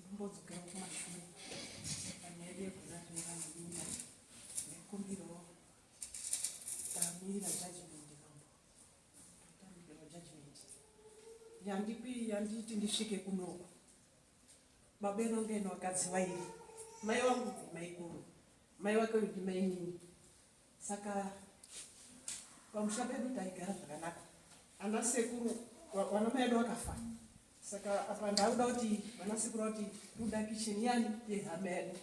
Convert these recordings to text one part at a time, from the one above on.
Ndimbodzokera kumashure panyaya yekuratira mumba nekumbirawo tamira judgment mambo tamirawo judgment yandipi yanditi ndisvike kunoku babeno ngeno vakadzi vairi mai wangu ndimaikuru mai wake ndimainini Saka pamusha pedu taigara zvakanaka, ana sekuru vana mai edu vakafa. Saka apa ndauda kuti vana sekuru kuti toda kicheni yani yehama yedu,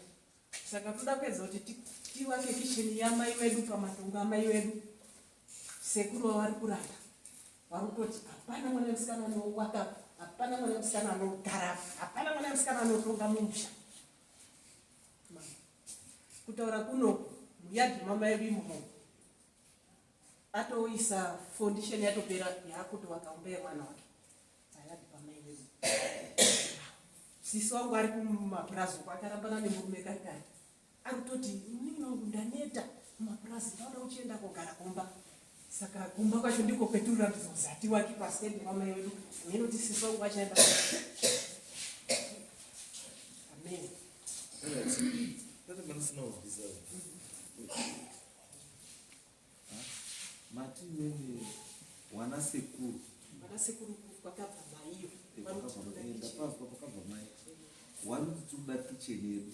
saka toda kuedza kuti tiwake kicheni yamai wedu pamatongo amai wedu. Sekuru vavari kuramba vari kutoti hapana mwana musikana anowaka, hapana mwana musikana anogara, hapana mwana musikana anotonga mumusha. kutaura kuno muyadhi mamai vimho atoisa foundation yatopera yakutovaka umba yemwana wake ayadhi pamai vimho sisi wangu ari kumapurazi uko akarambana nemurume kari kari ari kutoti inini wangu ndaneta mumapurazi ndaoda uchienda kogara kumba Saka kumba kwacho ndiko kwetiri kuratidza kuti hatiwaki paside pamai wedu hameno kuti sisi wangu vachaenda amen mati mene wana sekuru wana sekuru kwakabva maiyo ndapazwa kwakabva mai wanoti tiri kuda kicheni yedu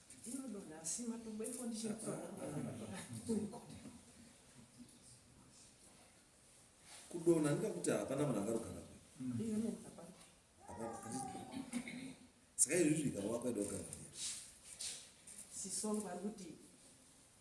kudona ndikakuti hapana munhu akarugana saka izvizvi ikava kwaidogaa sisongo ari kuti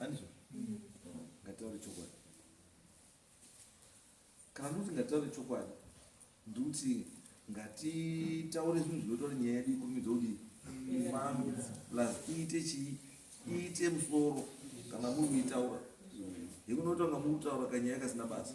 Andrew, ngataure chokwadi. Kana ndoti ngataure chokwadi, ndikuti ngatitaure zvinhu zvinotaura nyaya yedu ikurumidza kudii ifambe plus iite chii iite musoro kana muri kuitaura hekunotaura muri kutaura kanyaya kasina basa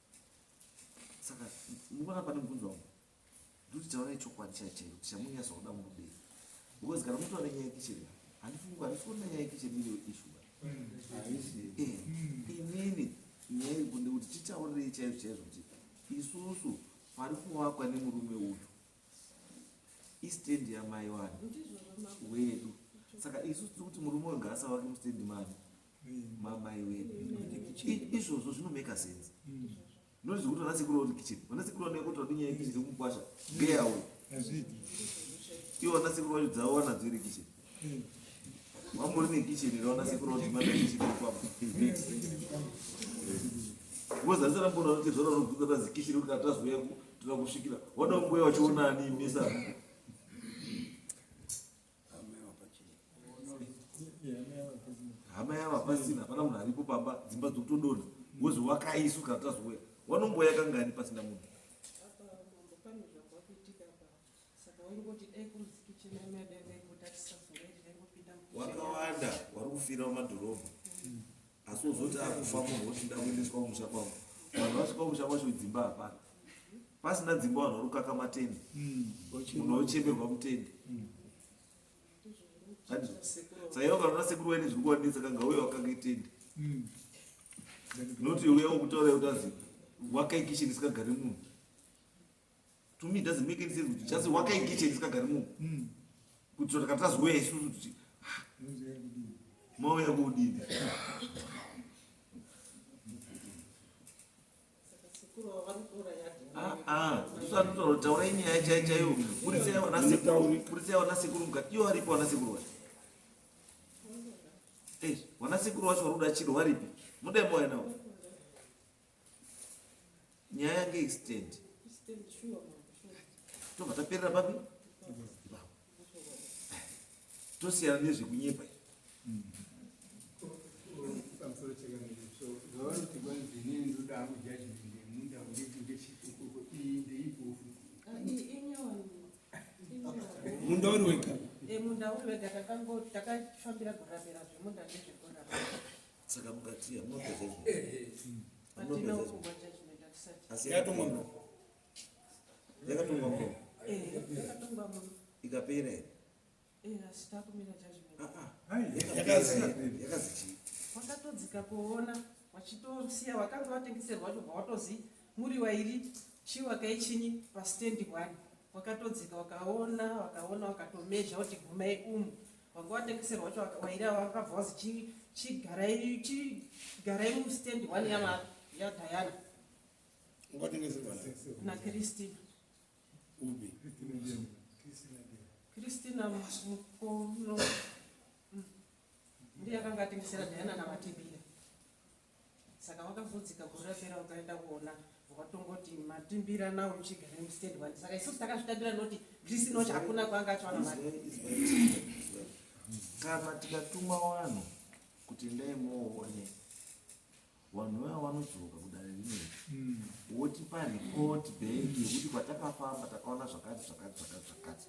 saka mukuona pane mubvunzo wangu ndokuti taona ichokwadi chai chaiyo kuti chamunyasa kuda murudei because kana mutora nyaya yekicheni handifungi handisi kuona nyaya yekicheni iriyo ishu eh, inini nyaya iri kunde kuti titaurirei chaizvo chaizvo kuti isusu pari kuvakwa nemurume uyu istendi yamai wani wedu saka isusu tiri kuti murume uyu ngaasavake mustendi mani mamaiwe izvozvo zvinomeka sense nonzi kuti vana sekuru vari kicheni vana sekuru vanoya kuti vadinyaya yekicheni yekukwasha ngeyawo ivo vana sekuru vacho dzavo vanadzo iri kicheni vambori nekicheni iri vana sekuru vati mana kicheni yekwavo vozarisa rambona kuti zvara vanobvunza tazi kicheni kuti katazoya tira kusvikira wada kumboya vachiona ani mesa hama yava pasina hapana munhu aripo pamba dzimba dzokutodona wozi wakaisu kana tazouya wanomboya kangani pasina munhu wakawanda wari kufira mumadhorobha asi wozoti akufa munhu wochida kuendeswa kumusha kwavo vanhu vasvika kumusha kwacho dzimba hapana pasina dzimba vanhu varukaka matende hmm, munhu wochemerwa mutende hmm. saiva ukaona sekuru waine zviri kuwanetsa kanga uye wakanga itende hmm. noti uya wokutaura yotazi wakaikishini isikagari munhu to me doesn't make any sense just wakaingicheni sikagari mu hmm. kuti saka tazouya isusu kuti ah, mauya kuudini ah, ah, ndosanotaura kuti taurai nyaya chai chaiyo burisai vana sekuru mukati iyo varipo vana sekuru vacho vana sekuru vacho vari kuda chiro varipi mudai mauya navo nyaya yange extend tobva taperera papi tosiyana nezvekunyepa munda uri wega eh, munda uri wega takafambira kuramira zvemunda nezvekurama saka mukatiya munopezazvinoasiyatongwa yakatongwa muno ikapera here yakazii wakatodzika kuona wachitosiya wakanga watengeserwa chobva watozi Muri wairi chi wakaichinyi pastand one wakatodzika wakaona wakaona wakatomezha kuti gumai umu wanga watengeserwa wacho wairi wakabva wazi chigarai mustand one yadhayana nakristina kristina mukono mm. ndiye akanga atengesera dhayana navatibira Saka wakavhudzika gore rapera wakaenda kuona watongoti matimbira nawo muchigara mustand one saka isusu takazvitambira noti grisi noti hakuna kwanga achiwana mari kana tikatuma vanhu kuti ndai moone vanhu vaya vanodzoka kudare rimwe hmm. wotipa report bank yekuti kwatakafamba takaona zvakati zvakati zvakati zvakati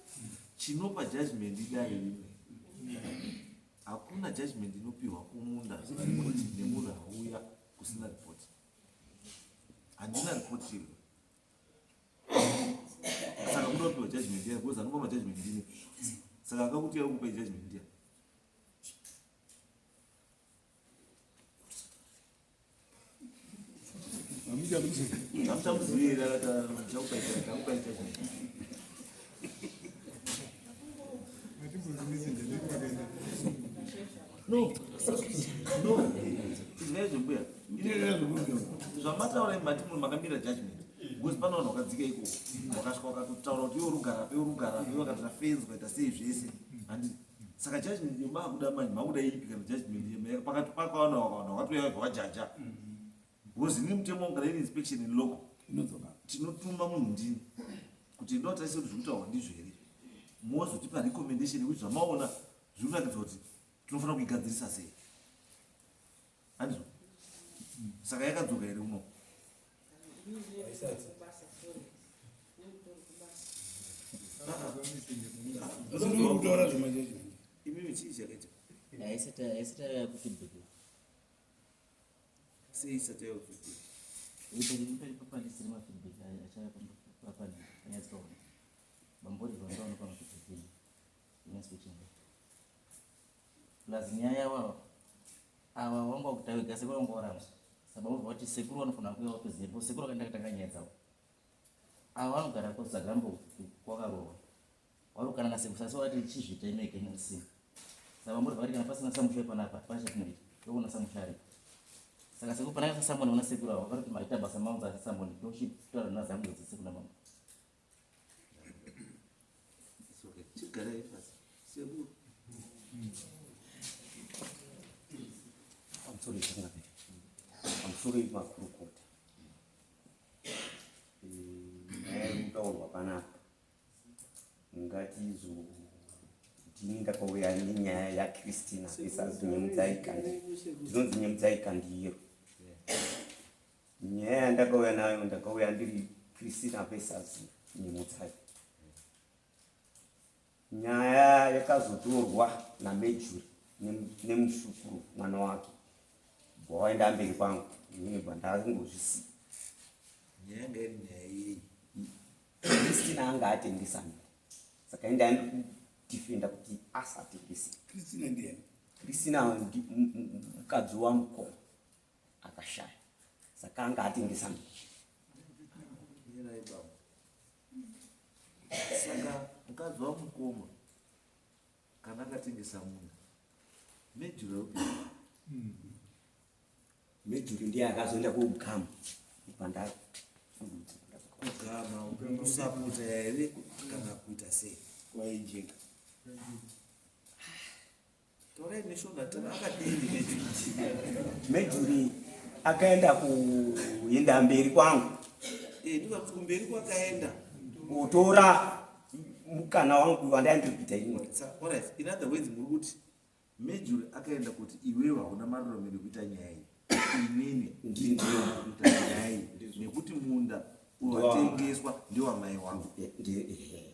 chinopa judgment idare rimwe Hakuna judgment inopihwa kumunda asina report nemunhu auya kusina report. Handina report iri. Saka kuda kupihwa judgment iya because anopa majudgment ndini. Saka akakuti yari kupa judgment iya. No, no, zvinezvimbuya zvamataura imati munhu makamira judgment because pane vanhu vakadzika ikoko vakasvika vakatotaura kuti iwe rugara pe rugara pe vakatira fenzi vaita sei zvese handii saka judgment yemakuda manje makuda ipi kana judgment yemera pakati pakawana wakawana wakatouya wega wajaja because ini mutemo kana iri inspection in local tinotuma munhu ndini kuti ndo tarise kuti zvekutaurwa ndizvo here mozotipa recommendation yekuti zvamaona zviri kuratidza kuti tinofanira kuigadzirisa sei Hanzo. Saka yakadzoka here uno? Imimi chii chakaita? Haisati haisati yava kufeedback. Sei isati yava kufeedback? Ipari papani siri mafeedback achava papani anyatsi paona. Bambori vandaona pano kufeedback. Nyatsi kuchinga. Plus nyaya yavo ava ava vanga vakuita vega sekuru vanga varamba saka vobva vati sekuru vanofanira kuuya vatoziva sekuru vakaenda katanga nyaya dzavo ava vanogara kuzagambo kwakarohwa vari kukana nasekuru sasi vati chizvita imeke musina saka vambori vari kana pasina samusha panapa pachatineita tokuona samusha aripo saka sekuru panaka sasamoni vana sekuru ava vakati maita basa maunza ati samoni toshitaura nazangu dzese kuna mama pamusoro makurukota nyaya iri kutaurwa panapa ngatizo ndini ndakauya nenyaya yakristina isazinyemudzaika ndinonzi nyemudzaika ndiro Nyaya yandakauya nayo ndakauya ndiri Christina Pesazi Nyemutsai. Nyaya yakazotorwa naMejuri nemuzukuru mwana wake bwawaenda mberi kwangu ini bwandakangozvisiya Christina anga atengesa miri saka enda ndikudefenda kuti asatengese Christina ndiye Christina mukadzi wamukoma akashaya saka anga atengesa mbichi saka mukadzi wamukoma kana akatengesa muna mejuru yeupi mejuru hmm. ndiye akazoenda kuugama pandaro kugama usaputa here kana kuita sei waijeka Torai mishonga tana akadini Mejuri akaenda kuenda mberi kwangu. Eh, ndika kumberi kwakaenda. Kutora mukana wangu wandai ndiri kuita imwe. All right. In other words, muri kuti Mejuri akaenda kuti iwewe hauna marurame ekuita nyaya iyi. Inini ndiri kuita nyaya iyi nekuti munda watengeswa ndiwamai wangu. Eh, eh, eh.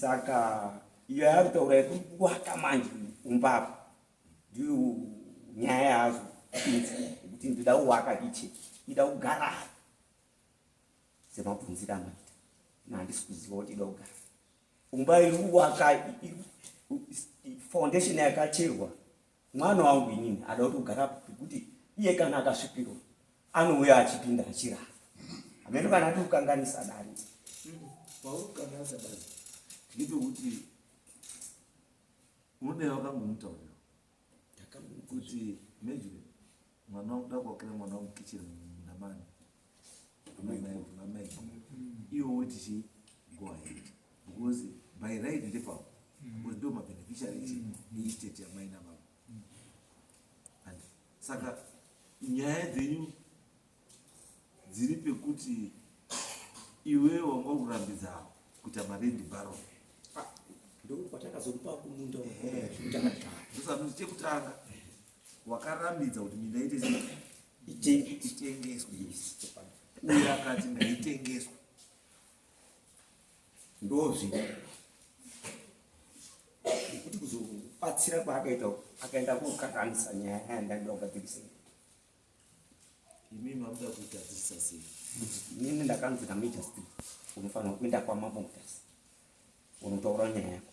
saka iyo yaari kutaura yekuri kuwata manje umbava ndiyo nyaya yazo kuti ndida kuwaka ichi ida kugara semabvunzira amaita nahandisi kuziva kuti ida kugara umba iri kuwaka foundation yakacherwa Mwana wangu inini ada kuti ugara pekuti iye kana akasvipirwa anouya achipinda achirara. Hameno kana ati kukanganisa dani. Pauri kukanganisa dani. Ndito kuti unoda wakangomutaurira. Ndakamukuzvi kuti mejire. Mwana wangu ndakuakira mwana wangu kitchen namani. Amai iwo woti chii go ahead because by right ndepavo because ndo mabeneficiary echi neestate yamai nababa and saka nyaya dzenyu dziri pekuti iwe wanga kurambidza kuita marendi baro ndokwatakazokupa kumunda chekutanga wakarambidza kuti minda ite itengeswe uye akati ngaitengeswe ndozvino kuti kuzobatsira kwaakaita akaenda kokakanisa nyaya yandaida kugadzirisa imi makuda kugadzirisa sei nini ndakanzi namuita sei unofanira kuenda kwamamotasi unotaura nyaya yako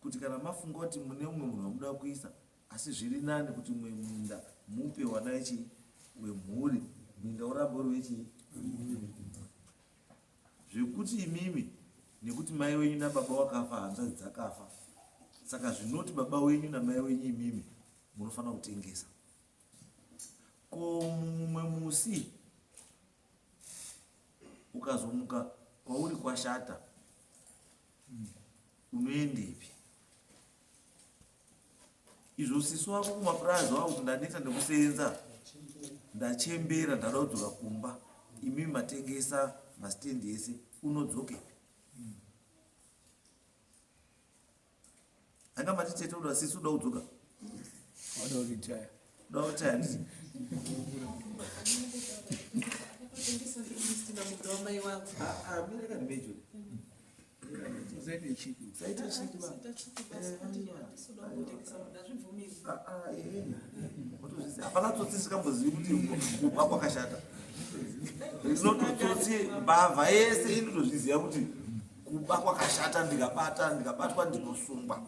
kuti kana mafunga kuti mune umwe munhu wamuda kuisa asi zviri nani kuti mwe munda mupe wana ichi wemhuri minda urambe uri wechi zvekuti imimi nekuti mai wenyu nababa wakafa hanzvadzi dzakafa saka zvinoti baba wenyu namai wenyu imimi munofanira kutengesa ko mumwe musi ukazomuka kwauri kwashata Unoendepi? Izvo sisi wako kumapurazi wavo kuti ndaneta nekusenza ndachembera ndada kudzoka kumba imi matengesa masitendi ese unodzoke anga matitete uda sisi uda kudzoka hapana tsotsi sikambozivi kuti kubva kwakashata ndinototsotsi mbavha yese inotozviziva kuti kuba kwakashata ndikabata ndikabatwa ndinosungwa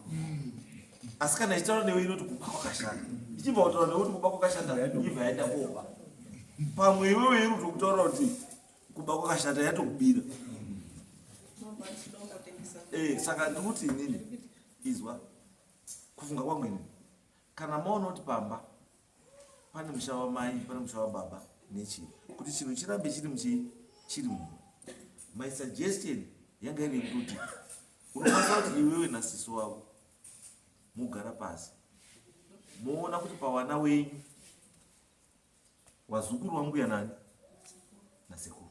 asi kana ichitaura newe inoti kuba kwakashanda ichibva kutaura newe kuti kuba kwakashanda ibva yaenda koba pamwe iwewe iri kutokutaura kuti kuba kwakashanda yatokubira eh, saka ndikuti inini izwa kufunga kwamwene kana maona kuti pamba pane musha wamai pane musha wababa nechii kuti chinhu chirambe chiri muchii chiri mumwe my suggestion yanga iri yekuti unokwanisa kuti iwewe nasiso wavo mugara pasi moona kuti pavana wenyu wazukuru wambuya nani nasekuru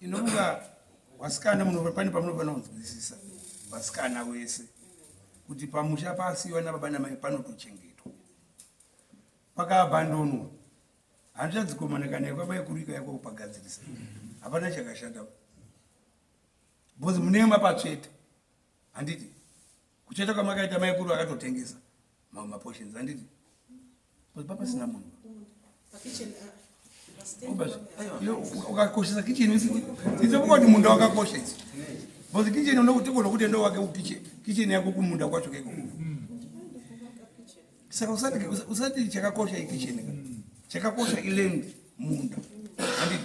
inomuka wasikana munova pane pamunofanira kunzwisisa vasikana wese kuti pamusha paasiwa nababa namai panotochengetwa pakaabhandonwa handichadzikomana kana yakwamai kurika yako kupagadzirisa hapana chakashata bhozi munema patsveta handiti kucheta kwamakaita maikuru akatotengesa mamwe maportions handiti kuti papasina munhu ukakoshesa kicheni isekukoti munda wakakoshesa bcause kicheni unokutikona kuti ndo wake ukiche kicheni yako kumunda kwacho keko saka usati chakakosha ikicheni chakakosha ilendi munda handiti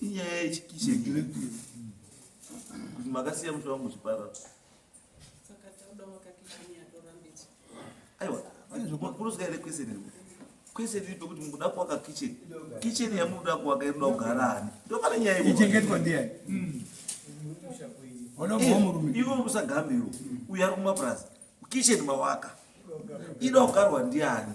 inyaya yechikishe kuti makasiya muti wangu zvipara aiwa makurusa ere kwese nini kwese tiri pekuti mukuda kuwaka kitchen kitchen yamukuda kuwaka inoda kugara ani ndopane nyaya ichengetwa ndiani hmm. eh, iwe urusagamiro uyo ari kumapurazi kitchen mawaka inoda kugarwa ndiani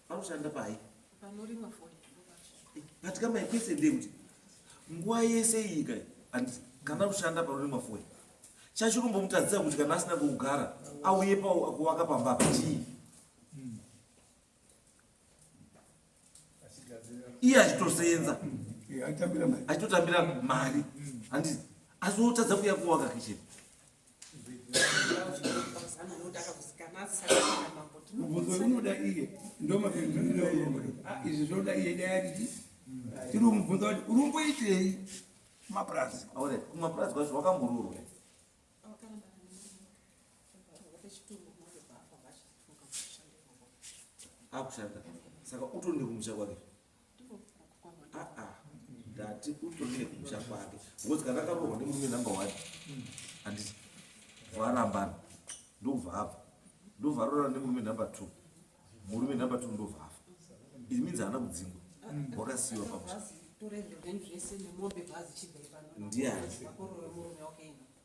Panoshanda pai? Panorimwa foni. But kama ikwese ndekuti nguwa yese iyi kai and kana kushanda panorimwa foni chachiri kumbomutadzisa kuti kana asina kugara auye pakuvaka pamba pachii iye achitosenza achitotambira mari handi asi wotadza kuya kuvaka kicheni mubvunzo unoda iye ndomapinduriro ah, izvi zvoda iye dai adidi tiri kumubvunza kuti uri kumboitei kumapurazi aone kumapurazi kwacho wakamururwa akushanda saka utondi kumusha kwake ndati utoende kumusha kwake ngozi kana akarohwa nemurume number one handiti varambana ndovava ndovarorana nemurume number two murume number two ndovava it means haana kudzingwa wakasiyiwa pamusha ndiani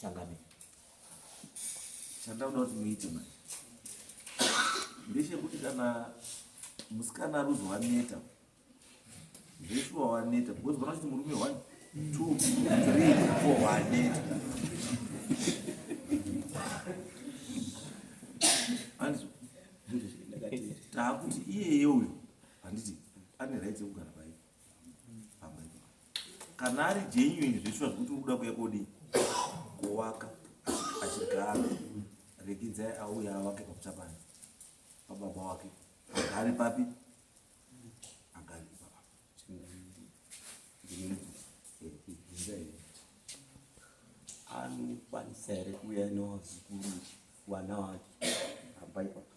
Changamire. Chandakuda kuti muite manje ndechekuti kana musikana aruzwa waneta zveshuwa waneta because vana kuti murume one two three four waneta takuti iyeye uyu handiti ane right yekugara kana ari genuine zveshuwa zvekuti uri kuda kuya kodi kuwaka achigara rekidzai auya awake pakuchapana pababa wake agari papi agari pababa anokwanisa here kuuya newazukuru wana wake ambai papa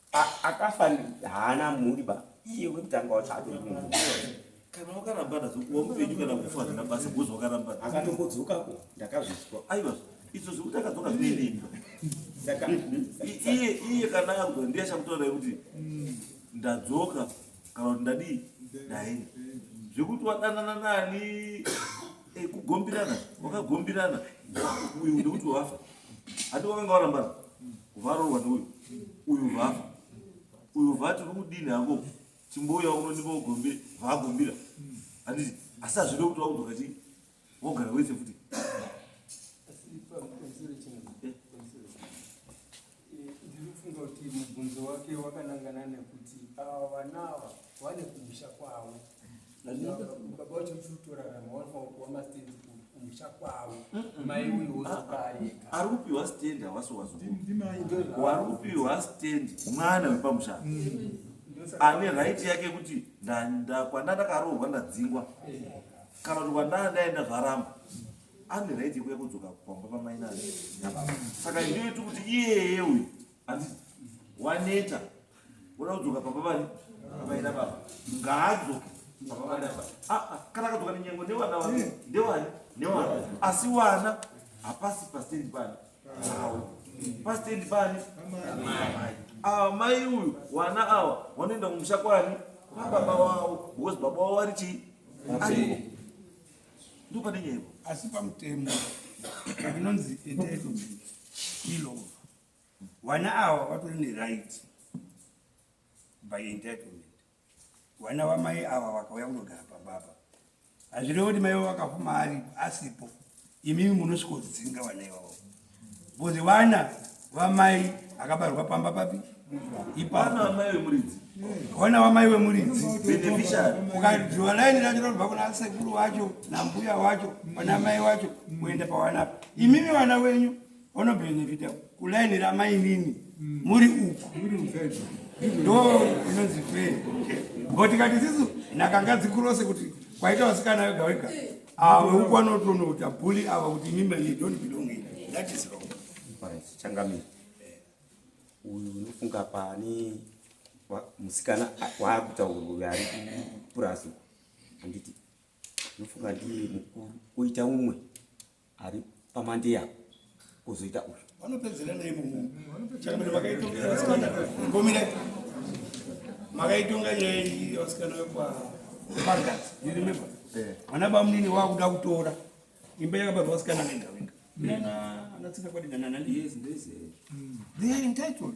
akafa haana mhuri ba iye wekutanga wacho atori munhu kana wakarambana wamupenyu kana kufa hazvina basa bhozi wakarambana akatongodzokako ndakazvizwa aiwa izvo zvekuti akadzoka zvineimba iye iye kana agwa ndiye achakutoona kuti ndadzoka kana kuti ndadii ndaenda zvekuti wadanana nani eh, kugombirana wakagombirana uyu ndekuti wafa hati wakanga warambana Varohwa neuyu. Uyu vafa. Uyu vati rudini hango timbouya uno ndipo gombira vagombira. Anditi asi azvide kuti wakutoka chi wogara wese futi. Mubvunzo wake wakanangana nekuti ava vana ava vane kumusha kwavo baba uchiri kutorarama wanofanira kuwa mastendi kumusha kwavo mai uyu wozokaeka ari kupiwa stendi hawasi wazowari kupiwa stendi mwana wepamusha ane raiti yake kuti kwanda ndakaroorwa ndadzingwa kana kuti kwandaa ndaenda zvaramba ane raiti yekuya kudzoka pamba pamainani saka ndiyoiti kuti iyeye uyu hanzi waneta uda kudzoka papa vari vaida baba ngaadzoke papa vaida baba aa ah, ah, kana akadzoka nenyengo newana wa hmm. ndewani newana asi wana hapasi pastendi pani awo pastendi pani awa mai uyu wana awa wanoenda kumusha kwani kwababa wawo because baba wawo ari chii ariko ndo pane nyaya asi pamutemo inonzi etedo ilova Vana ava vatori neright by entitlement. Vana vamai ava vakauya kunogara pamba apa, hazvirevo kuti mai vavo vakafuma ari asipo, imimi munosvikodzinga vana ivavo bcozi vana vamai akabarwa pamba papi ipavana vamai vemuridzi ukadyiwa laini racho rinobva kuna sekuru wacho nambuya wacho pana mai wacho kuenda pawanapa imimi vana wenyu Honorable Nyevita, kulaini ramainini mm. muri uku ndo inonzi fair but tikati sisu nakanga dzikurose kuti kwaita vasikana vega vega ava ah, uku anotonota buli ava kuti mimba ye don't belong in that is wrong changamira uyu unofunga pane musikana waakutaurwa uyu ari kupurasu handiti unofunga ndiye mukuru koita umwe ari pamandeya kuzoita uyu vanopedzera nei muchambere vakaitonga vasikana ngomira makaitonga nyaya iyi vasikana vekwa paradise you remember eh. vana bamunini vakuda kutora imba yakabarwa vasikana venga venga ana tsika kwadinanana ndiyezi ndese they are entitled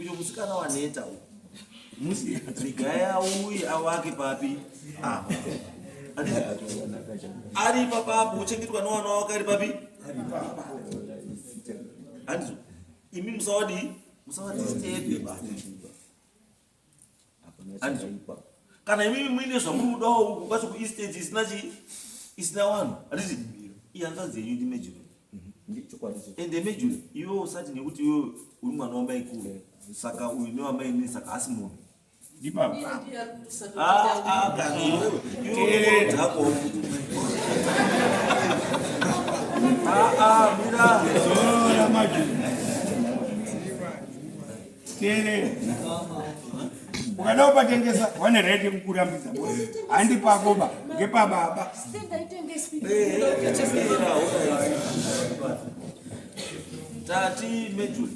Uyo musikana waneta uyo. Musi Rigaya uye awake papi? Ah. Ari papa apo uchengetwa nowana wako ari papi? Ari papa. Handizo. Imi musawadi musawadi step baba. kana imimi muine zvamuri kudawo uku kwacho kuestage isina chi isina vanhu handiti ihanzvadzi yenyu ndi major mhm. ende major iwe usati nekuti iwe uri mwana wamai kuru eh. saka uyu newamai nini saka hasi munhu Ah, ah, mira. teerera ukada kupatengesa vane right yekukurambidza handi pako ba ngepababa tati mejul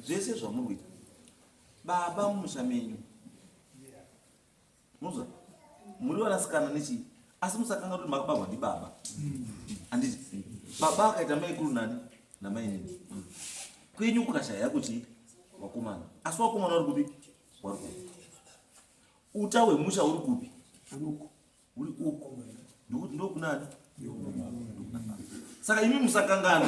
zvese zvamuri kuita baba mumusha menyu Muza, muri vanasikana nechi asi musakanga kuti makabarwa ndibaba anditi baba akaita maikuru nani namainini kwenyu kukashaya kuti wakomana asi wakomana wari kupi wari kupi uta hwemusha uri kupi uri uko ndikuti ndokunani saka imi musakangana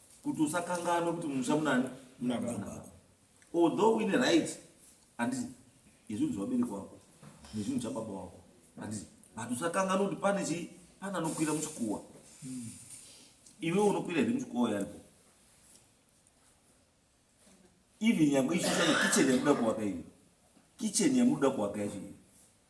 kuti usakanganwe kuti mumusha munani munababa although uine right handiti yezvinhu zvevabereki wako nezvinhu zvababa wako handiti but usakanganwe kuti pane chii pane anokwira muchikuwa hmm. iwe unokwira here muchikuwa yaripo even nyangwe ichosana kicheni yamuda kuwaka iyo kicheni yamuda kuwaka yacho iyo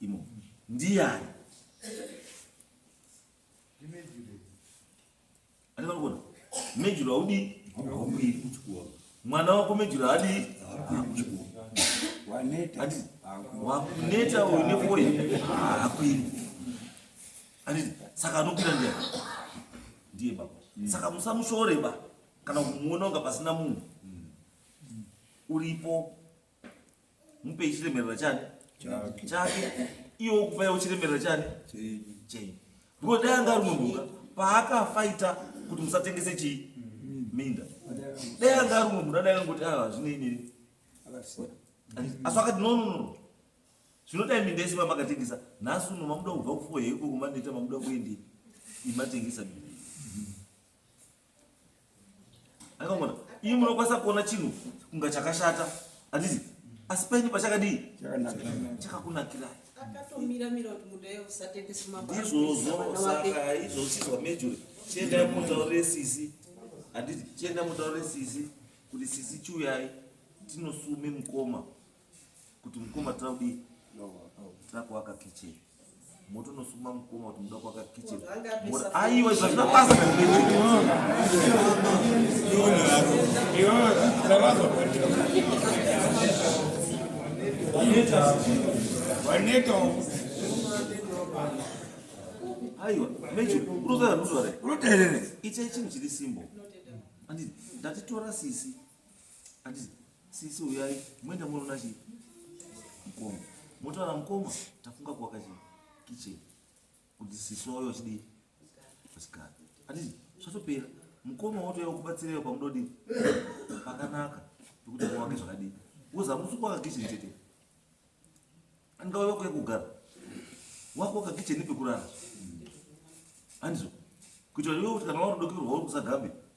imo ndiyani andikanikuona mejuru haudi haumiri kuchikoro mwana wako mejuru haadi kuchikoro wakuneta uyu nefoye haakwiri anditi saka anokwira ndiya ndiye baba mm. saka musamushore ba kana kumuona unga pasina munhu mm. uripo mupei chiremerera chani chake iwe ukufa iwe chiremerera chani chei because dai anga ari munhu paakafaita kuti musatengese chii minda dai anga ari munhu dai angoti ava ah, zvinei nini asi akati no no no zvinodai minda yese vamakatengesa nhasi uno mamuda kubva kufuwa heiko kumaneta mamuda kuendi imatengesa minda akamona iyi munokwanisa kuona chinhu kunga chakashata handizi asi paini pachakadii chakakunakirai izvozozosizwa mejuri chienda mutaurire sisi handiti chienda mutaurire sisi kuti sisi chiuyai tinosume mukoma kuti mukoma tira kudii tira kuaka kitchen moto unosuma mukoma kuti muda kuaka kitchen aiwa izvo hazvina basa aiwa mecho unotaura ndozvare unoterere ichai chinhu chiri simbo anditi ndatitora sisi anditi Sisi uyai muenda munoona chii? Mkoma. Motaura mkoma tafunga kuwaka chii? Kitchen. Kuti sisi wauya uchidii? Kusikana. Ati zvatopera. Mkoma wotouya kubatsireyo pamudodii? Pakanaka. Pekuti muwake zvakadii? Woza musi kuwaka kitchen chete. Angauya kuya kugara. Wako waka kitchen nepekurara. Anizvo. Kuitira kuti kana wari dokerwa uri kusagambe.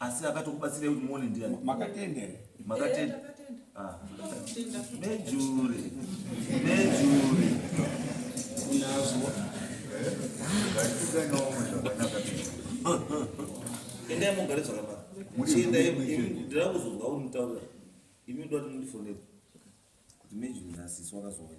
asi akatokubatsirai kuti muone ndiani makatenda here makatenda ah. nejure nejure unazwa endai mugare zvakanaka muchiendai ndira kuzonzwa uri mutaurira imi ndoati mundifonere kuti mejuri nasisi wakazouya